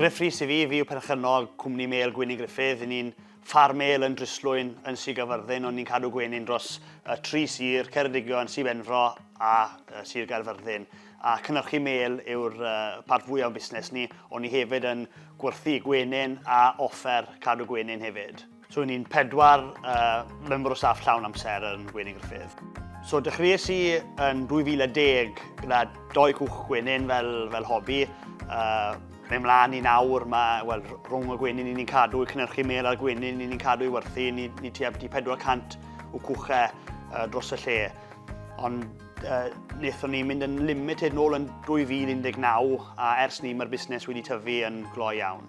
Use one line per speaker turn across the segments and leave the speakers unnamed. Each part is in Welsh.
Griff Rhys i fi, fi yw perchennog cwmni Mêl Gwyni Griffith. Yn ni'n ffar mêl yn Dryslwyn yn Sir Gaerfyrddin, ond ni'n cadw gwenyn dros y tri sir, Ceredigion, Sir Benfro a uh, Sir Gaerfyrddin. A cynnyrchu mêl yw'r uh, part fwyaf o'n busnes ni, ond ni hefyd yn gwerthu gwenyn a offer cadw gwenyn hefyd. So ni'n pedwar uh, member o staff llawn amser yn Gwenin Griffith. So dechreuais i yn 2010 gyda doi cwch gwenin fel, fel hobi. Uh, mae mlaen i nawr, mae well, rhwng y gwenin i ni'n cadw i cynnyrchu mel a'r gwenin i ni'n cadw i werthu, ni, ni tua byti 400 o cwchau uh, dros y lle. Ond uh, wnaethon ni mynd yn limited nôl yn 2019 a ers ni mae'r busnes wedi tyfu yn gloi iawn.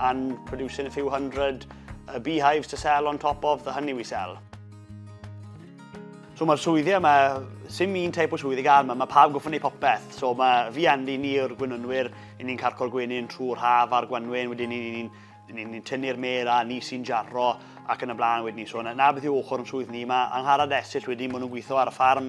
and producing a few hundred uh, beehives to sell on top of the honey we sell. So mae'r swyddi yma, sy'n un teip o swyddi gael yma, mae pawb goffo wneud popeth. So mae fi Andy, ni o'r gwynonwyr, i ni'n carco'r gwenyn trwy'r haf a'r gwanwyn, wedyn ni'n ni, ni, ni, ni tynnu'r mer a ni sy'n jarro ac yn y blaen wedyn ni. So na, na beth yw ochr yn swydd ni, mae Angharad Esill wedyn, maen nhw'n gweithio ar y ffarm,